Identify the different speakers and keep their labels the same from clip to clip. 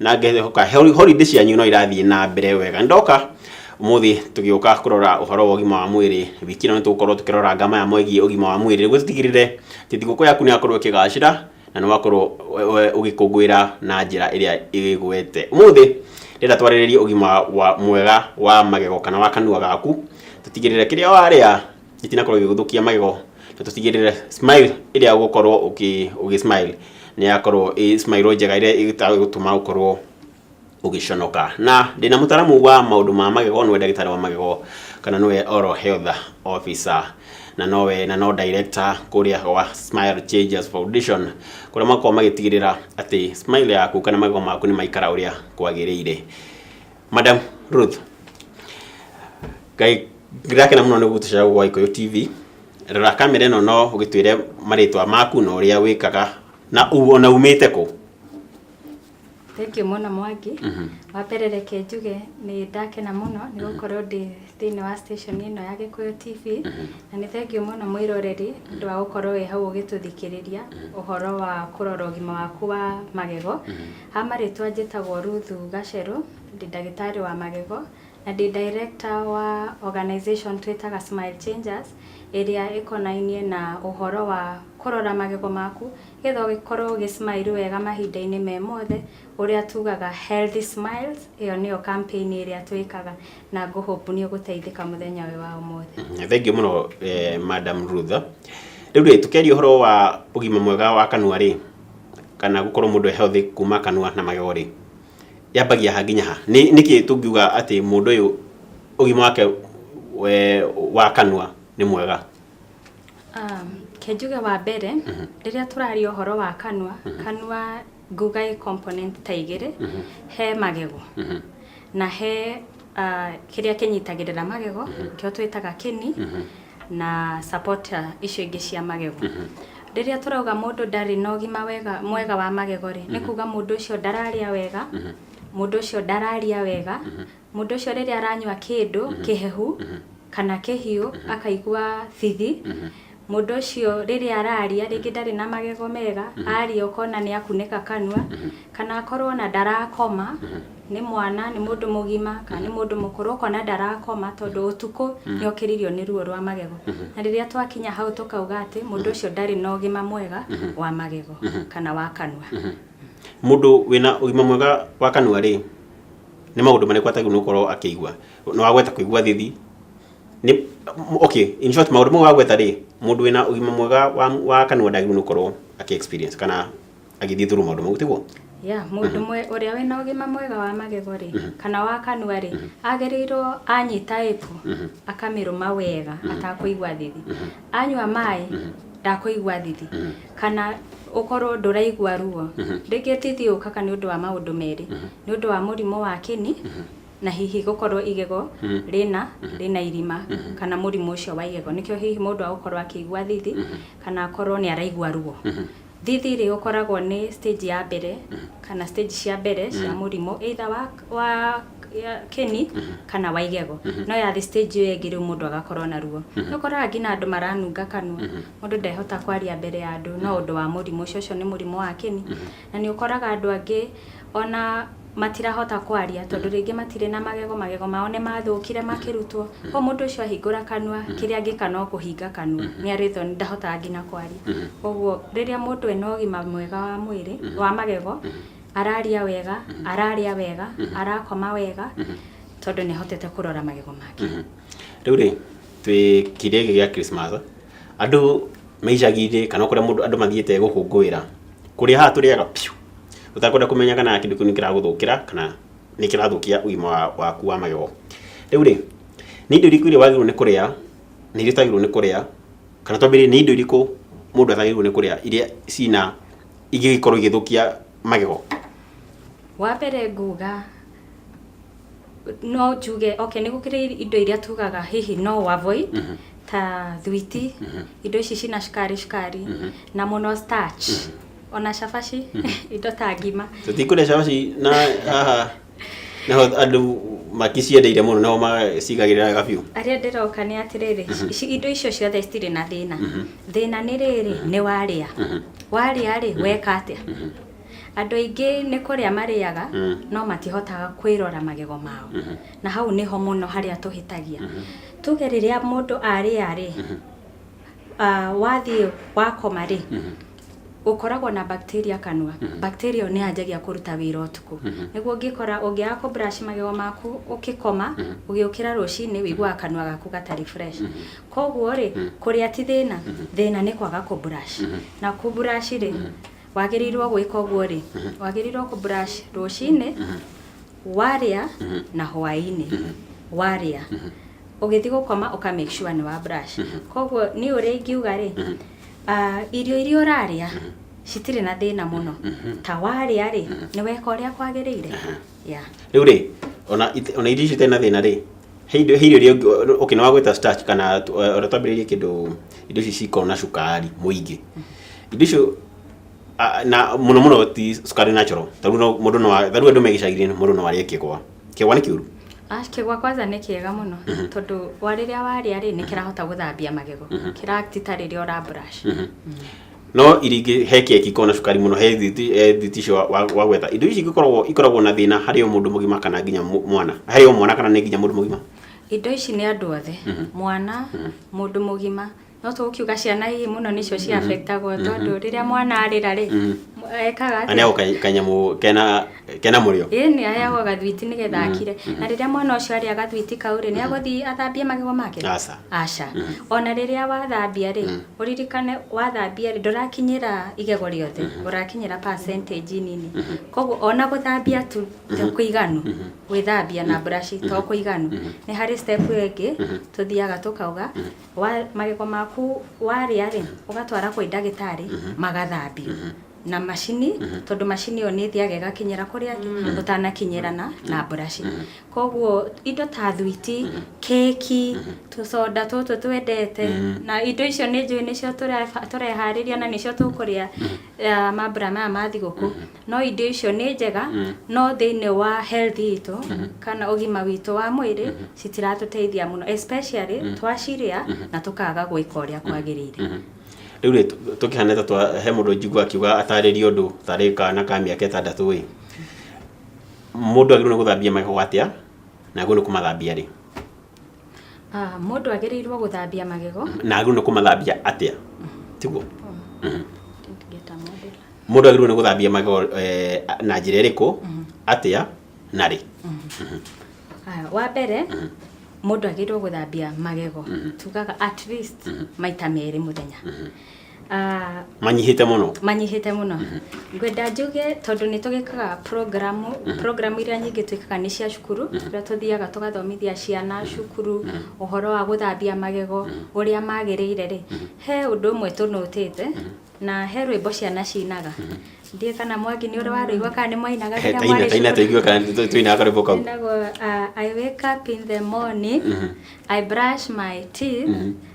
Speaker 1: na ngehoka hori- holiday cianyu no irathiĩ na mbere wega ndoka ũmũthĩ tũgĩũka kũrora ũhoro wa ũgima wa mwĩrĩ wiki ĩno nĩtũgũkorwo tũkĩrora ngama ya mwegiĩ ũgima wa mwĩrĩ nĩguo tũtigĩrĩre atĩ thigũkũ yaku nĩyakorwo ĩkĩgacĩra na nĩwakorwo we- we- ũgĩkũngũĩra na njĩra ĩrĩa ĩgwete ũmũthĩ ndĩrenda twarĩrĩrie ũgima wa mwega wa magego kana wa kanua gaku tũtigĩrĩre kĩrĩa warĩa itinakorwo igĩgũthũkia magego na tũtigĩrĩre smile ĩrĩa ũgũkorwo ũkĩ ũgĩ smile nĩ yakorwo ĩ smile njega ĩrĩa ĩtagũtũma ũkorwo ũgĩconoka na ndĩna mũtaramu wa maũndũ ma magego nĩwe ndagĩtarĩ wa magego kana nĩwe oral health officer na nowe na no director kũrĩa gwa Smile Changes Foundation kũrĩa makoragwo magĩtigĩrĩra atĩ smile yaku kana magego maku nĩ maikara ũrĩa kwagĩrĩire. madam ruth ngai ndĩrakena mũno nĩ gũtũcera gwa ikũyũ tv rora kamera ĩno no ũgĩtwĩre marĩtwa maku na ũrĩa wĩkaga na u- ona umĩte kũ
Speaker 2: Thank you mũno Mwangi. Mhm. Wa mbere reke njuge nĩ ndakena mũno nĩ gũkorwo ndĩ thĩinĩ wa station ĩno ya Gĩkũyũ TV na nĩ thengiũ mũno mwĩroreri nĩ ũndũ wa gũkorwo wĩ hau ũgĩtũthikĩrĩria ũhoro wa kũrora ũgima waku wa magego Ha marĩtwa njĩtagwo Ruthu Gacerũ, ndĩ ndagĩtarĩ wa magego, na ndĩ director wa organization twĩtaga Smile Changers, ĩrĩa ĩkonainie na ũhoro wa kũrora magego maku, nĩgetha ũgĩkorwo ũgĩ smile wega mahinda-inĩ me mothe, ũrĩa tugaga healthy smiles, ĩyo nĩyo campaign ĩrĩa twĩkaga, na ngũ hope nĩ ũgũteithĩka mũthenya ũyũ wa ũmũthĩ. Thengiũ mũno
Speaker 1: Madam Ruthu. Rĩu rĩ, tũkĩaria ũhoro wa ũgima mwega wa kanua rĩ, kana gũkorwo mũndũ e healthy kuma kanua na magego rĩ, yambagia ha nginya ha? Nĩ nĩkĩ tũngiuga atĩ mũndũ ũyũ ũgima wake we wa kanua nĩ mwega? Um, ke
Speaker 2: njuge wa mbere rĩrĩa tũraria ũhoro wa kanua kanua nguga ĩ component ta igĩrĩ he magego na he uh, kĩrĩa kĩnyitagĩrĩra magego kĩo twĩtaga kĩni na supporter icio ingĩ cia magego rĩrĩa tũrauga mũndũ ndarĩ na ũgima wega mwega wa magego rĩ nĩ kuga mũndũ ũcio ndararĩa wega mũndũ ũcio ndararia wega mũndũ ũcio rĩrĩa aranyua kĩndũ kĩhehu kana kĩhiũ akaigua thithi mũndũ ũcio rĩrĩa araria rĩngĩ ndarĩ na magego mega aria ũkona nĩ akunĩka kanua Kana akorwo ona ndarakoma, nĩ mwana, nĩ mũndũ mũgima, kana nĩ mũndũ mũkũrũ, ũkona ndarakoma tondũ ũtukũ nĩ okĩririo nĩ ruo rwa magego. Na rĩrĩa twakinya hau tũkauga atĩ mũndũ ũcio ndarĩ na ũgima mwega wa magego kana wa kanua. Mũndũ
Speaker 1: wĩna ũgima mwega wa kanua rĩ, nĩ maũndũ marĩkũ atagĩrĩirwo nĩ gũkorwo akĩigua? Nĩ wagweta kũigua thithi, nĩ, okay, in short maũndũ mau wagweta rĩ, mũndũ wĩna ũgima mwega wa, wa kanua ndagĩrĩirwo nĩ gũkorwo akĩ experience kana agĩthiĩ thuru maũndũ mau tiguo ya mũndũ mhm. mwe
Speaker 2: ũrĩa wĩna ũgima mwega wa magego rĩ mhm. kana wa kanua rĩ mhm. agĩrĩirwo anyita ĩpu akamĩrũma wega atakũigua thithi anyua maĩ ndakũigua thithi kana ũkorwo ndũraigua ruo rĩngĩ thithi ũkaka nĩ ũndũ wa maũndũ merĩ nĩ ũndũ wa mũrimũ wa kĩni na hihi gũkorwo igego rĩna rĩna irima kana mũrimũ ũcio wa igego nĩkĩo hihi mũndũ agũkorwo akĩigua thithi kana akorwo nĩ araigua ruo Thithi rĩ ũkoragwo nĩ stage ya mbere kana stage cia mbere cia mũrimũ either wa wa ya kĩni kana wa igego no yathi stage ĩyo ĩngĩ rĩu mũndũ agakorwo na ruo nĩ ũkoraga nginya andũ maranunga kanua mũndũ ndehota kwaria mbere ya andũ no ũndũ wa mũrimũ ũcio ũcio nĩ mũrimũ wa kĩni na nĩ ũkoraga andũ angĩ ona matirahota kwaria tondũ rĩngĩ matirĩ na magego, magego mao nĩ mathũkire makĩrutwo. Koguo mũndũ ũcio ahingũra kanua, kĩrĩa angĩka no kũhinga kanua. Nĩ arĩtwo nĩ ndahotaga nginya kwaria. Koguo rĩrĩa mũndũ ena ũgima mwega wa mwĩrĩ, wa magego, araria wega, ararĩa wega, arakoma wega, tondũ nĩ ahotete kũrora magego make. Rĩu rĩ,
Speaker 1: twĩ kĩrĩa gĩkĩ gĩa Christmas, andũ me icagi-inĩ kana o kũrĩa mũndũ andũ mathiĩte gũkũngũĩra, kũrĩa haha tũrĩaga biũ. ũtakwenda kũmenya kana kĩndũ kĩu nĩ kĩragũthũkĩra kana nĩ kĩrathũkia ũgima wa- waku wa magego rĩu rĩ nĩ indo irĩkũ iria wagĩrĩirwo nĩ kũrĩa na iria ũtagĩrĩirwo nĩ kũrĩa kana twambĩrĩrie nĩ indo irĩkũ mũndũ atagĩrĩirwo nĩ kũrĩa iria cina ingĩgĩkorwo igĩthũkia magego wa
Speaker 2: mbere nguga no njuge okay nĩ gũkĩrĩ indo iria tugaga hihi no ũ avoid ta thwiti indo ici cina cukari cukari na mũno starch ona
Speaker 1: cabaci indo ta
Speaker 2: ngima tũtikũrĩa
Speaker 1: cabaci
Speaker 2: na
Speaker 1: haha naho andũ makiciendeire mũno nao macigagĩrĩra wega biũ arĩa ndĩroka nĩ
Speaker 2: atĩrĩrĩ ici- indo icio ciothe citirĩ na thĩna thĩna nĩ rĩrĩ nĩ warĩa warĩa rĩ weka atĩa andũ aingĩ nĩ kũrĩa marĩaga no matihotaga kwĩrora magego mao na hau nĩho mũno harĩa tũhĩtagia tuge rĩrĩa mũndũ arĩa rĩ ah, wathiĩ wakoma rĩ gũkoragwo na bacteria kanua mhm. bacteria ĩyo nĩ yanjagia kũruta wĩra ũtukũ mhm. nĩguo ũngĩkora ũngĩaga kũ brush magego maku ũkĩkoma mhm. ũgĩũkĩra rũcinĩ wĩiguaga kanua gaku gatarĩ fresh koguo rĩ kũrĩa ti thĩna thĩna nĩ kwaga kũ brush na kũ brush rĩ wagĩrĩirwo gwĩka ũguo rĩ wagĩrĩirwo kũ brush rũcinĩ warĩa na hwainĩ warĩa ũgĩthiĩ gũkoma ũka make sure nĩ wa brush koguo niĩ ũrĩa ingiuga rĩ Ah, irio iria ũrarĩa citirĩ na thĩna mũno ta warĩa rĩ nĩ weka ũrĩa kwagĩrĩire yeah. rä u rä
Speaker 1: ona ite- ona irio icio itarĩ na thĩna rĩ he indo- he irio iria ũngĩ- okay, nĩ wagwĩta starch kana tu- eh, ona twambĩrĩrie kĩndũ indo ici cikorwo na cukari mũingĩ indo icio ah, na mũno mũno ti cukari natural tarĩu no- mũndũ no a- tarĩu andũ me gĩcagi-inĩ mũndũ no arĩe kĩgwa Kĩgwa nĩ kĩũru? Ah, kĩgwa kwanza
Speaker 2: nĩ kĩega mũno tondũ wa rĩrĩa warĩa rĩ nĩ kĩrahota gũthambia magego kĩratita rĩrĩa ũra brush no iria ingĩ he keki ikoragwo na cukari mũno he thiti he thiti icio wa- wa- wagwetha indo ici ikoragwo ikoragwo na thĩna harĩ o mũndũ mũgima kana nginya mũ- mwana harĩ o mwana kana nĩ nginya mũndũ mũgima indo ici nĩ andũ othe mwana mũndũ mũgima No tũkiuga ciana ii mũno nĩcio ci affectagwo tondũ rĩrĩa mwana arĩra rĩ ekaga atĩa? aneagwo ka- kanyamũ
Speaker 1: kena kena mũrĩo ĩĩ nĩ aheagwo gathwiti
Speaker 2: nĩ getha akire na rĩrĩa mwana ũcio arĩa gathwiti kau rĩ nĩ agũthiĩ athambie magego make Aca. aca ona rĩrĩa wathambia rĩ ũririkane wathambia rĩ ndũrakinyĩra igego rĩothe ũrakinyĩra percentage nini koguo ona gũthambia tu to kũiganu gwĩthambia na mburaci to kũiganu nĩ harĩ step ĩyo ĩngĩ tũthiaga tũkauga Wa, magego maku warĩa-rĩ, ũgatwara kwĩ ndagĩtarĩ, magathambio na macini, tondũ macini ĩyo nĩ ĩthiaga ĩgakinyĩra kũrĩa angĩ, ũtanakinyĩra na, na mburaci. Koguo, indo ta thwiti, keki, tũconda tũtũ twendete, na indo icio nĩ njũĩ nĩcio tũreba, tũreharĩria na nĩcio tũkũrĩa, aah mambura maya ma thigũkũ. no indo icio nĩ njega mm. no thĩinĩ wa health itũ mm -hmm. kana ũgima witũ wa mwĩrĩ mm -hmm. citiratũteithia mũno especially mm -hmm. twacirĩa mm -hmm. na tũkaga gwĩka ũrĩa mhm. kwagĩrĩire mm -hmm rä u
Speaker 1: rä tå kä hana ta he må ndå njigua akiuga atarä rie å ndå tarä kana ka mä aka ätandatå ä må ndå agä rwo nä gå thambia magego atä a na agä rwo nä kå mathambia rä Ah,
Speaker 2: mũndũ agĩrĩirwo gũthambia magego na agĩrĩirwo nĩ kũmathambia
Speaker 1: atĩa tiguo Mhm. Didn't get a model. mũndũ agĩrĩirwo nĩ gũthambia magego eh, na njĩra ĩrĩkũ atĩa na rĩ
Speaker 2: Ah, wa mbere mũndũ agĩrĩirwo gũthambia magego tugaga at least maita merĩ mũthenya Ah, manyihĩte
Speaker 1: mũno manyihĩte mũno ngwenda njuge tondũ nĩ tũgĩkaga programu programu iria nyingĩ twĩkaga nĩ cia cukuru kũrĩa tũthiaga tũgathomithia ciana cukuru ũhoro wa gũthambia magego ũrĩa magĩrĩire rĩ he ũndũ ũmwe tũnũtĩte na he rwĩmbo ciana cinaga ndiĩ kana mwangi nĩ ũrĩ warũigua kana nĩ mwainaga rĩrĩa taina mwarĩ taina cukuru tũigue kana tũ- tũinaga karwĩmbo kau Inagwo, uh, I
Speaker 2: wake up in the morning, I brush my teeth,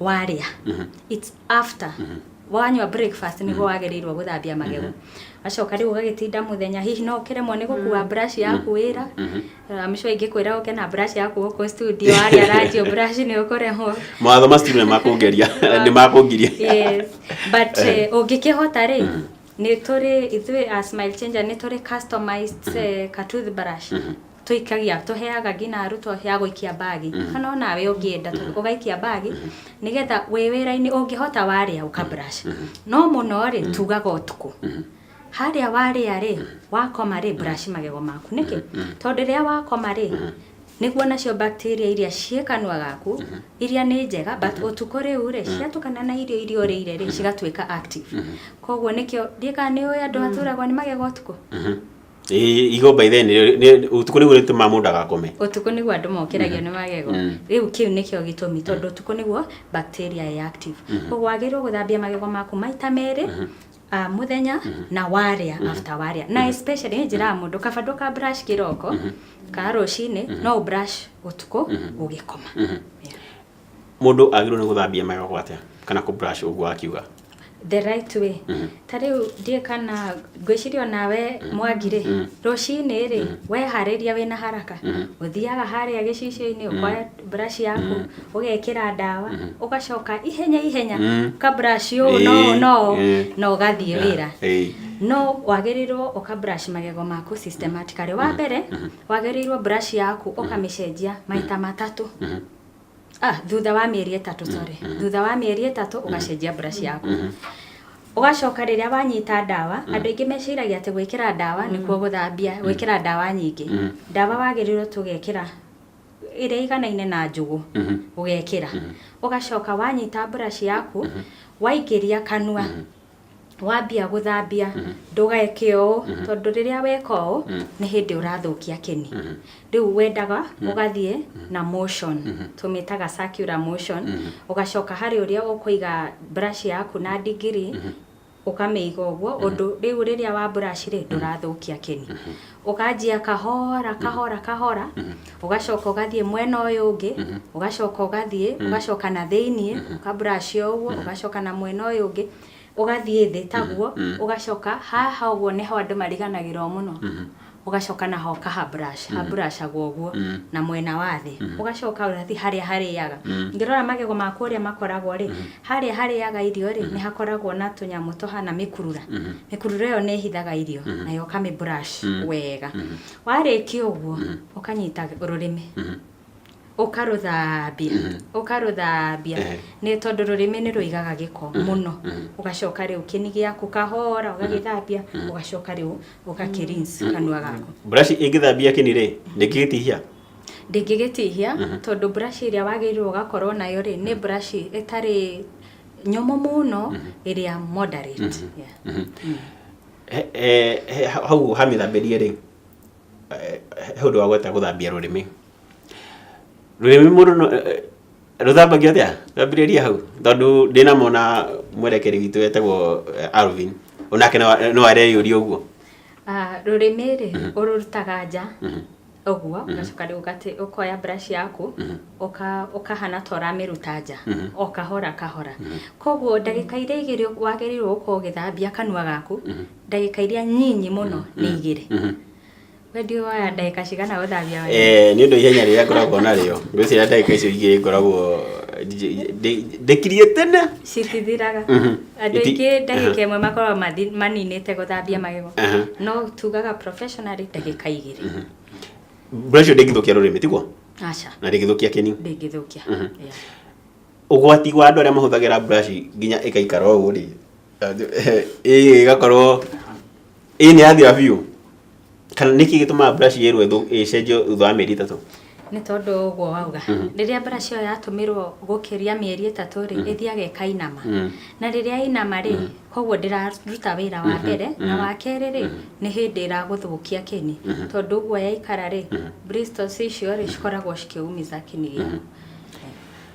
Speaker 2: warĩa it's after wanyua breakfast nĩguo wagĩrĩirwo gũthambia magego wacoka rĩu ũgagĩtinda mũthenya hihi no ũkĩremwo nĩ gũkua brush yaku wĩra amco ingĩkwĩra ũke na brush yaku gũkũ studio warĩa ranjio brush nĩ ũkũremwo mawatho ma studio nĩ
Speaker 1: makũngeria nĩ makũngiria yes
Speaker 2: but eh, ũngĩkĩhota rĩ Nĩ tũrĩ ithuĩ a Smile Changer nĩ tũrĩ customized eh, ka toothbrush tũikagia tũheaga nginya arutwo ya gũikia mbagi kana onawe ũngĩenda tũ- ũgaikia mbagi nĩgetha wĩ wĩra-inĩ ũngĩhota warĩa ũkabrush no mũno rĩ tugaga ũtukũ harĩa warĩa rĩ wakoma rĩ brush magego maku nĩkĩ tondũ rĩrĩa wakoma rĩ nĩguo nacio bacteria iria ciĩ kanua gaku iria nĩ njega but ũtukũ rĩu rĩ ciatukana na irio iria ũrĩire rĩ cigatuĩka active koguo nĩkĩo ndiĩ kana nĩ ũĩ andũ maturagwo nĩ magego ũtukũ Ĩ-
Speaker 1: igo by then nĩ- nĩ- ũtukũ nĩguo rĩtũmaga mũndũ agakome ũtukũ nĩguo andũ mokĩragio
Speaker 2: nĩ magego Mm. rĩu kĩu nĩkĩo gĩtũmi tondũ ũtukũ nĩguo bacteria ĩ active koguo wagĩrĩirwo gũthambia magego maku maita merĩ Ah, muthenya na warĩa after warĩa na especially nĩ njĩraga mũndũ kaba ndũka brush kĩroko ka rũcinĩ no brush ũtukũ ũgĩkoma Yeah.
Speaker 1: mũndũ agĩrĩirwo nĩ gũthambia magego atĩa kana kũ brush ũguo akiuga the right
Speaker 2: way ta rĩu ndiĩ kana ngwĩciria onawe mwangirĩ rũcinĩ rĩ weharĩria wĩna haraka ũthiaga harĩa gĩcicio-inĩ ũkoya brush yaku ũgekĩra ndawa ũgacoka ihenya ihenya ka brush ũũ no ũũ, no ũũ, Eh. na ũgathiĩ wĩra Eh. no wagĩrĩirwo ũka brush magego maku systematically wa mbere wagĩrĩirwo brush yaku ũkamĩcenjia maita matatũ ah, thutha wa mĩeri ĩtatũ sorry thutha wa mĩeri ĩtatũ ũgacenjia brush yaku ũgacoka rĩrĩa wanyita ndawa andũ aingĩ meciragia atĩ gwĩkĩra ndawa nĩkuo gũthambia gwĩkĩra ndawa nyingĩ ndawa wagĩrĩirwo tũgekĩra ĩrĩa ĩiganaine na njũgũ ũgekĩra ũgacoka wanyita brush yaku waingĩria kanua wambia gũthambia ndũgeke ũũ tondũ rĩrĩa weka ũũ nĩ hĩndĩ ũrathũkia kĩni rĩu wendaga ũgathiĩ na motion tũmĩtaga circular motion ũgacoka harĩ ũrĩa ũkũiga brush yaku na ndigiri ũkamĩiga ũguo ũndũ rĩu rĩrĩa wa brush rĩ ndũrathũkia kĩni ũkanjia kahora kahora kahora ũgacoka ũgathiĩ mwena ũyũ ũngĩ ũgacoka ũgathiĩ ũgacoka na thĩinĩ ũkabrush o ũguo ũgacoka na mwena ũyũ ũngĩ ũgathiĩ thĩ taguo ũgacoka haha ũguo nĩho andũ mariganagĩrwo mũno ũgacoka na ho kaha brush ha brush agwo ũguo na mwena wa thĩ ũgacoka ũgathi harĩa harĩaga ngĩrora magego maku ũrĩa makoragwo rĩ harĩa harĩaga irio rĩ nĩ hakoragwo na tũnyamũ tũhana mĩkurura mĩkurura ĩyo nĩ ĩhithaga irio nayo ũkamĩ brush wega warĩkia ũguo ũkanyita rũrĩmĩ ũkarũthambia ũkarũthambia Ehe. nĩ tondũ rũrĩmĩ nĩ rũigaga gĩko mũno ũgacoka rĩu kĩni gĩaku kahora ũgagĩthambia ũgacoka rĩu ũgakĩrinsi kanua gaku buraci ĩngĩthambia
Speaker 1: kĩni rĩ ndĩngĩgĩtihia ndĩngĩgĩtihia
Speaker 2: tondũ buraci ĩrĩa wagĩrĩirwo ũgakorwo nayo rĩ nĩ buraci ĩtarĩ nyũmũ mũno ĩrĩa moderate Yeah. He- he-
Speaker 1: he- hau hamĩthambĩrie rĩ he ũndũ wa gweta gũthambia rũrĩmĩ rũrĩmĩ mũndũ no- eh, eh, rũthambagio atĩa twambĩrĩrie hau tondũ ndĩna mona mwerekeri witũ wetagwo eh, alvin onake no- no areyũria ũguo Ah, rũrĩmĩ
Speaker 2: rĩ ũrũrutaga nja ũguo ũgacoka rĩu ũgate- ũkoya brush yaku ũka- ũkahana ta ũramĩruta nja o kahora kahora koguo ndagĩka iria igĩrĩ wagĩrĩirwo gũkorwo ũgĩthambia kanua gaku ndagĩka iria nyinyi mũno nĩ igĩrĩ wendio waya ndagĩka cigana ũthambia waya Eh, nĩ ũndũ ihenya
Speaker 1: rĩrĩa ngoragwo narĩo ngwĩciria ndagĩka icio igĩrĩ ngoragwo nji- ndĩ- ndĩkirie tene citithiraga
Speaker 2: Mhm. andũ Iti- aingĩ ndagĩka ĩmwe makoragwo mathi- maninĩte gũthambia magego Aha. no tugaga professionally ndagĩka igĩrĩ mbura
Speaker 1: icio ndĩngĩthũkia rũrĩmĩ tiguo aca na ndĩngĩthũkia
Speaker 2: kĩni
Speaker 1: ndĩngĩthũkia
Speaker 2: Mhm.
Speaker 1: Yeah. ũgwati wa andũ arĩa mahũthagĩra mburaci nginya ĩgaikara ũũ rĩ ĩĩ ĩgakorwo ĩĩ nĩ yathira biũ kana nĩkĩ gĩtũmaga brush yerwo ĩthũ- ĩcenjio thutha wa mĩeri ĩtatũ nĩ tondũ ũguo
Speaker 2: wauga rĩrĩa brush ĩyo yatũmĩrwo gũkĩria mĩeri ĩtatũ rĩ ĩthiaga ĩkainama Mm. na rĩrĩa yainama rĩ koguo ndĩraruta wĩra wa mbere na wa kerĩ rĩ nĩ hĩndĩ ĩragũthũkia kĩni tondũ ũguo yaikara rĩ bristles icio rĩ cikoragwo cikĩumiza kĩni gĩaku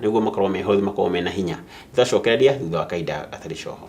Speaker 1: nĩguo makorwo me hũthũ makorwo mena hinya tũgacokereria thutha wa kahinda gatarĩ coho.